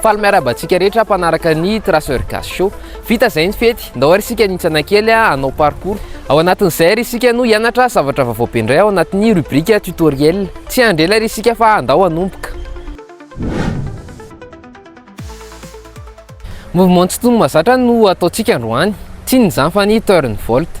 Faly miarahaba antsika rehetra mpanaraka ny Traceur Gas Show. Vita izay ny fety, ndao ary isika nintsana kely hanao parcours. Ao anatin'izay ary isika no hianatra zavatra vaovao be indray ao anatin'ny rubrique tutoriel. Tsy handrela ary isika fa ndao hanomboka. Mouvement tsy tony mazatra no ataontsika androany. Tsinona izany fa ny turn volt.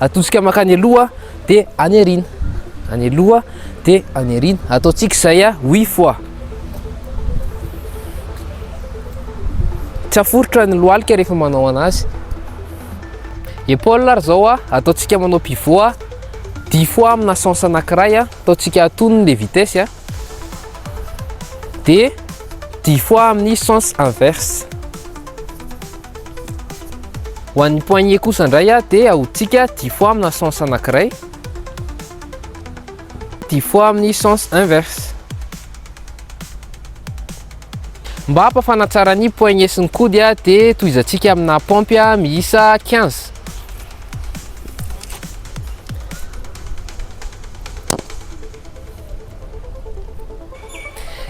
Atosika mankany aloha dia any aoriana. Any aloha dia any aoriana. Ataontsika izay a, oui foi. Tsy aforitra ny lohalika rehefa manao anazy. Épaule ary izao a, ataontsika manao pivot a, dix fois amina sens anankiray a, ataontsika atonony le vitesse a. Dia dix fois amin'ny sens inverse. Ho an'ny poignet kosa indray dia ahodintsika dix fois amina sens anankiray, dix fois amin'ny sens inverse. Mba hampafana tsara ny poignet sy ny kody dia tohizantsika amina paompy miisa quinze.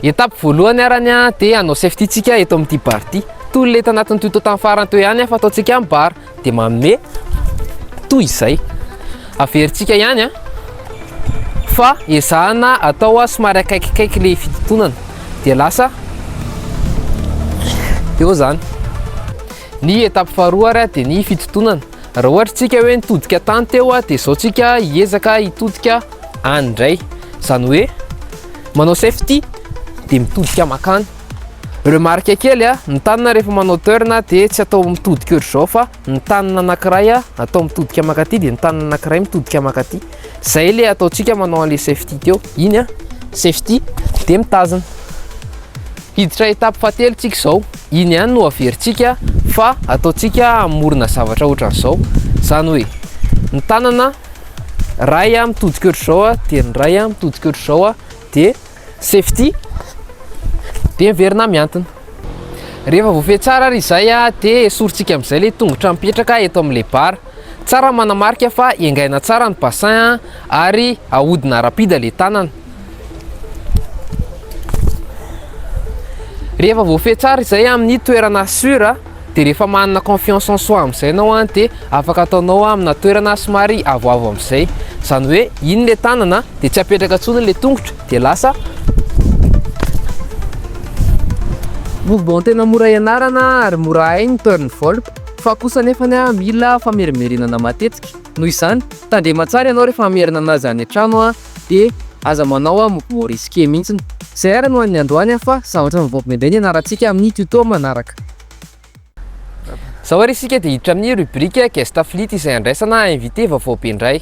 Étape voalohany arany a, dia hanao safety tsika eto amin'ity bar ity. Toy ilay tanatin'ny tuto tamin'ny farany teo ihany fa ataontsika amin'ny bar, dia manome toy izay. Averintsika ihany a, fa ezahana atao a somary akaikikaiky ilay fitontonana, dia lasa eo izany. Ny étape faharoa ary a, dia ny fitontonana. Raha ohatra tsika hoe nitodika tany teo a dia zao tsika hiezaka hitodika any indray zany hoe manao safety dia mitodika makany remarque kely a ny tanana rehefa manao turn a dia tsy atao mitodika ohatr'izao fa ny tanana anankiray a atao mitodika makaty dia ny tanana anankiray mitodika makaty Zay le ataontsika manao an'le safety teo, iny a, safety de mitazona. Hiditra étape fahatelo tsika zao, iny ihany no averintsika fa ataontsika hamorona zavatra ohatran'izao, zany hoe ny tanana ray a mitodika ohatr'izao a, de ny ray a mitodika ohatr'izao a, de. safety dia miverina mihantona. Rehefa voafehy tsara ary izay dia esorintsika amin'izay ilay tongotra mipetraka eto amin'ilay bara. Tsara manamarika fa engaina tsara ny bassin ary ahodina rapide ilay tanana. Rehefa voafehy tsara izay amin'ny toerana sur Dia rehefa manana confiance en soi amin'izay ianao dia afaka ataonao amina toerana somary avoavo amin'izay. Izany hoe iny ilay tanana dia tsy apetraka intsony ilay tongotra dia lasa mouvement tena mora ianarana ary mora hay ny turn volp fa kosa anefa mila famerimberenana matetika. Noho izany, tandrema tsara ianao rehefa hamerina an'azy any an-trano. Dia aza manao a mot mot risqué mintsiny. CR no an'ny androany a fa zavatra mivoaka be be ny ianarantsika amin'ny tuto manaraka. Zao ary isika dia hiditra amin'ny rubrique guest affiliate izay handraisana invité vaovao be indray.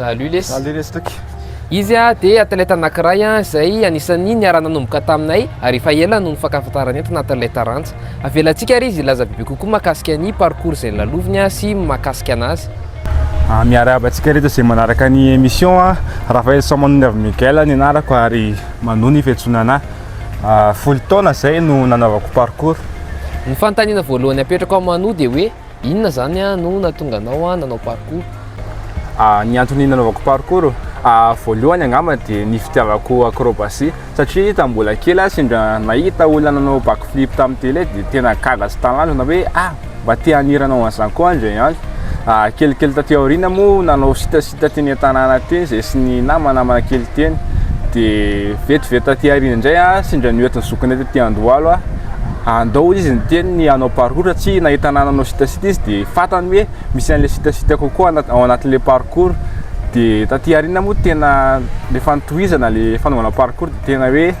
Salut les. Salut les toky. Izy dia athlète anankiray izay anisan'ny niara-nanomboka taminay ary efa ela no nifankafantarana entona athlète Rantsa. Avelantsika ary izy hilaza bebe kokoa makasika ny parcours izay laloviny sy makasika anazy. Ah, miarahaba antsika rehetra izay manaraka ny émission a. Ah. Raphaël Soamanondravy Miguel ny anarako ary manoa ny fiantsoana ah, folo taona izay no nanaovako parcours. Ny fanontaniana voalohany apetrako amin'ny manoa dia hoe inona izany a no natonga anao a nanao parcours? Ah, ny antony nanaovako parcours ah, voalohany angamba dia ny fitiavako acrobatie. Satria tamin'ny mbola kely aho sendra nahita olona nanao back flip tamin'ny télé dia tena gaga sy talanjona hoe ah! mba te hanirana ho an'izany koa aho indray andro. Kelikely taty aoriana moa nanao sitasita teny an-tanàna teny izahay sy ny namanamana kely teny. Dia vetivety taty aoriana indray aho sendra noentin'ny zokinay taty Andohalo aho. Andao hoy izy niteny ny hanao parcours satria nahita ahy nanao sitasita izy dia fantany hoe. Misy an'ilay sitasita kokoa ao anatin'ilay parcours dia taty aoriana moa tena rehefa notohizana ilay fanaovana parcours dia tena hoe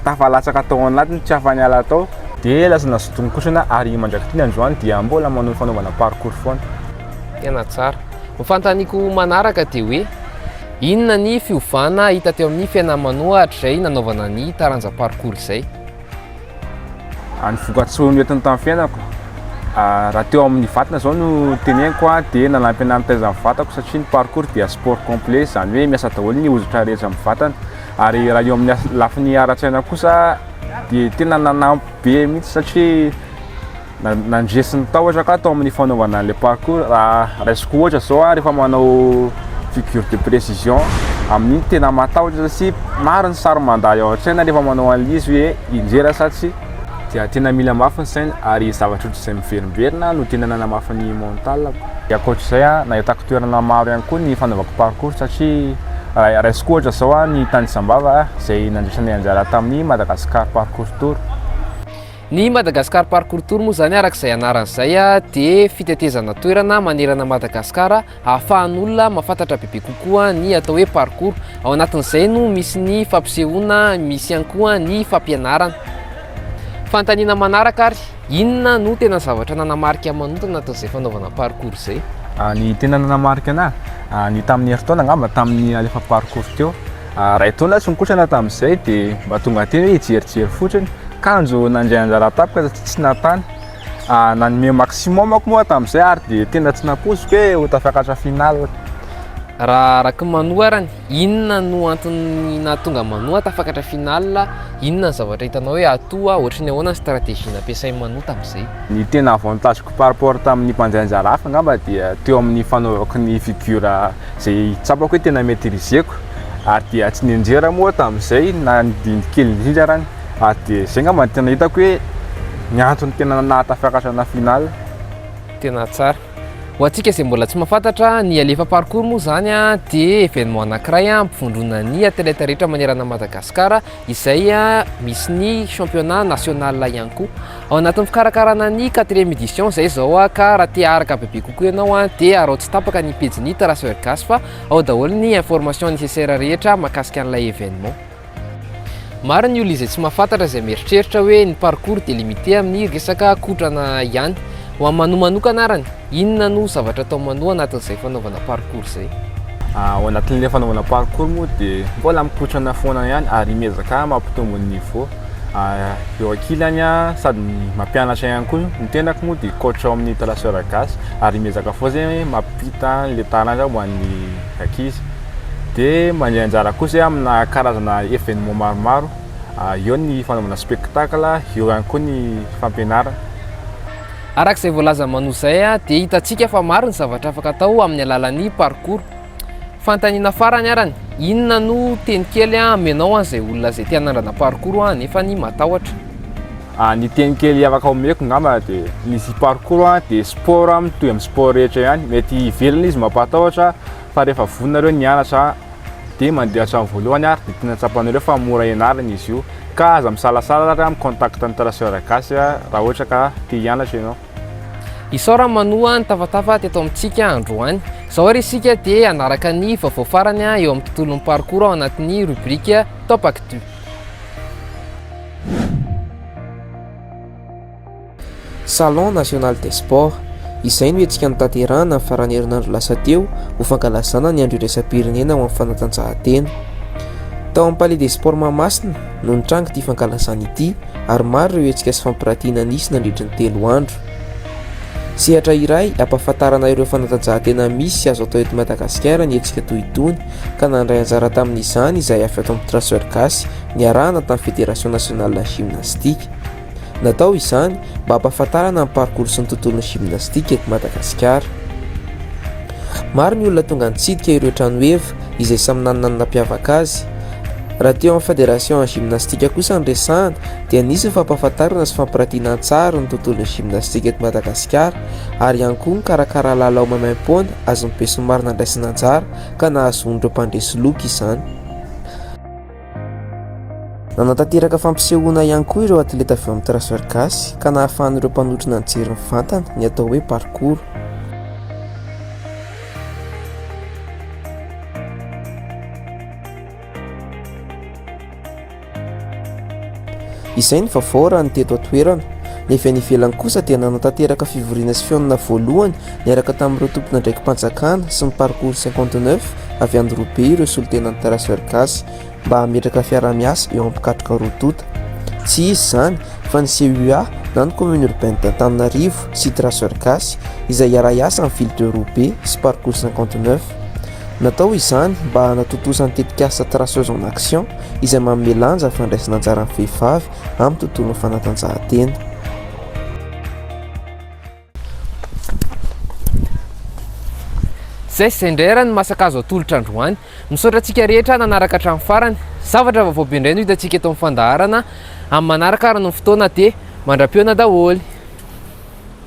tafalatsaka tao anatiny tsy afa-niala tao. Dia lasa nazotonin-kosona ary mandrak'ity ny androany dia mbola manao ny fanaovana parcours foana. Tena tsara. Ny fanontaniako manaraka dia hoe inona ny fiovana hita teo amin'ny fiainan'i Mano hatrizay nanaovana ny taranja parcours izay? Ny vokatsoa noentiny tamin'ny fiainako, raha teo amin'ny vatana izao no teneniko dia nanampy anà nitaiza ny vatako satria ny parkour dia sport complet, izany hoe miasa daholo ny hoditra rehetra amin'ny vatana. Ary raha eo amin'ny lafiny ara-tsaina kosa dia tena nanampy be mihitsy satria. Nandresin'ny tahotra ka tao amin'ny fanaovana an'ilay parcours raha raisiko ohatra zao a rehefa manao figure de précision amin'iny tena matahotra sy maro ny sary mandà eo an-tsaina rehefa manao an'izy hoe injera sa tsy dia tena mila mafy ny saina ary zavatra ohatr'izay miverimberina no tena nanamafy ny mental-ko. Dia ankoatr'izay a nahitako toerana maro ihany koa ny fanaovako parcours satria raha raisiko ohatra zao a ny tany Sambava izay nandraisanay anjara tamin'ny Madagascar parcours tour. Ny Madagascar Parcours Tour moa izany araka izay anarany izay dia fitetezana toerana manerana an'i Madagasikara ahafahan'olona mahafantatra bebe kokoa ny atao hoe parcours. Ao anatin'izay no misy ny fampisehoana, misy ihany koa ny fampianarana. Fanontaniana manaraka ary, inona no tena zavatra nanamarika Manota anatin'izay fanaovana parcours izay? Ny tena nanamarika anahy, ny tamin'ny herintaona angamba, tamin'ny alefa parcours teo, Iray taona tsy nikotrana tamin'izay dia mba tonga teny hoe hijerijery fotsiny. Kanjo nandray anjara tampoka satria tsy nantany. Nanome maximum aho moa tamin'izay ary dia tena tsy nampoiziko hoe ho tafakatra finale. Raha araka ny manoa arany, inona no antony nahatonga an'i Manoa tafakatra finale? Inona ny zavatra hitanao hoe atoa? Ohatry ny ahoana ny stratégie nampiasain'i Manoa tamin'izay? Ny tena avantage-ko par rapport tamin'ny mpandray anjara hafa angamba dia teo amin'ny fanaovako ny figure Izay tsapako hoe tena maîtriseko ary dia tsy nianjera moa aho tamin'izay na ny didy kely indrindra arany ary dia izay angamba no tena hitako hoe ny antony tena nahatafiakatra ana finale. Tena tsara. Ho antsika izay mbola tsy mahafantatra, ny Alefa Parkour moa izany dia événement anankiray ampivondronan'ny athlètes rehetra manerana an'i Madagasikara, izay misy ny championnat national ihany koa ao anatin'ny fikarakarana ny quatrième édition izay izao ah, ka raha te araka bebe kokoa ianao ah, dia arao tsy tapaka ny pejy ny Terrasseur Gasy fa ao daholo ny information nécessaire rehetra makasika an'ilay événement. Maro ny olona izay tsy mahafantatra izay mieritreritra hoe ny parcours dia limité amin'ny resaka kotrana ihany. Ho amin'ny manoa manokana arany, Inona no zavatra atao manoa anatin'izay fanaovana parkour izay? Ao anatin'ilay fanaovana parkour moa dia mbola mikotrana foana ihany ary miezaka mampitombo ny niveau eo ankilany sady mampianatra ihany koa. Ny tenako moa dia coach ao amin'ny Traceur Gasy ary miezaka foana izay hoe mampita an'ilay taranja ho an'ny ankizy. Dia mandray anjara koa izay amina karazana événement maromaro, eo ny fanaovana spectacle, eo ihany koa ny fampianarana. Araka izay voalazan'i Manou izay dia hitantsika fa maro ny zavatra afaka atao amin'ny alalan'ny parcours. Fanontaniana farany arany, inona no teny kely amenao an'izay olona izay te hanandrana parcours nefa ny matahotra? Ah, ny teny kely afaka omeko ngamba dia ny izy parcours ah, dia sport ah, mitohy amin'ny sport rehetra ihany, mety hivelona izy mampatahotra fa rehefa vonona nareo ny hianatra, dia mandeha hatramin'ny voalohany ary dia tiana tsapanareo fa mora ianarana izy io ka aza misalasala ary mi-contact ny traceur gasy raha ohatra ka te hianatra ianao. Isaorana manoa ny tafatafa teto amintsika androany. Izao ary isika dia hanaraka ny vaovao farany eo amin'ny tontolon'ny parcours ao anatin'ny rubrique Top Actu. Salon National des Sports. Izay no hetsika notanterahina ny faran'ny herinandro lasa teo ho fankalazana ny andro iraisam-pirenena ho an'ny fanatanjahantena. Tao amin'ny Palais des Sports Mahamasina no nitrangy ity fankalazana ity ary maro ireo hetsika sy fampirantiana nisy nandritry ny telo andro. Sehatra iray ampahafantarana ireo fanatanjahantena misy sy azo atao eto Madagasikara ny hetsika toy itony ka nandray anjara tamin'izany izay avy ato amin'ny Traceur Gasy niarahana tamin'ny Fédération Nationale Gymnastique. Natao izany mba hampahafantarana ny parcours sy ny tontolon'ny gymnastique eto Madagasikara. Maro ny olona tonga nitsidika ireo tranoheva izay samy nanana ny nampiavaka azy. Raha teo amin'ny Fédération en gymnastique kosa ny resahana dia nisy ny fampahafantarana sy fampiratiana an-tsary ny tontolon'ny gymnastique eto Madagasikara ary ihany koa nikarakara lalao maimaim-poana azon'ny besinimaro nandraisana anjara ka nahazoan'ireo mpandresy loka izany. Nanatanteraka fampisehoana ihany koa ireo atleta avy ao amin'ny Tracer Gasy ka nahafahan'ireo mpanotra najery mivantana ny atao hoe parcours. Izay ny vaovao raha ny teto an-toerana. Ny avy any ivelany kosa dia nanatanteraka fivoriana sy fihaonana voalohany niaraka tamin'ireo tompon'andraiki-panjakana sy ny Parcours cinquante neuf avy any roa be ireo solontenan'ny Traceurs gasy mba hametraka fiaraha-miasa eo am-pikatroka roa tonta. Tsy iza izany fa ny CUA na ny Commune Urbaine d'Antananarivo sy Traceurs gasy izay hiara-hiasa amin'ny Ville de Roa be sy Parcours cinquante neuf. Natao izany mba hanatontosa ny tetikasa Traceuses en Action izay manome lanja ny fandraisana anjaran'ny vehivavy amin'ny tontolon'ny fanatanjahantena. Izay sy izay indray ary ny masaka azo atolotra androany. Misaotra antsika rehetra nanaraka hatramin'ny farany. Zavatra vaovao be indray no hitantsika eto amin'ny fandaharana amin'ny manaraka ary ny fotoana dia mandra-pihaona daholo.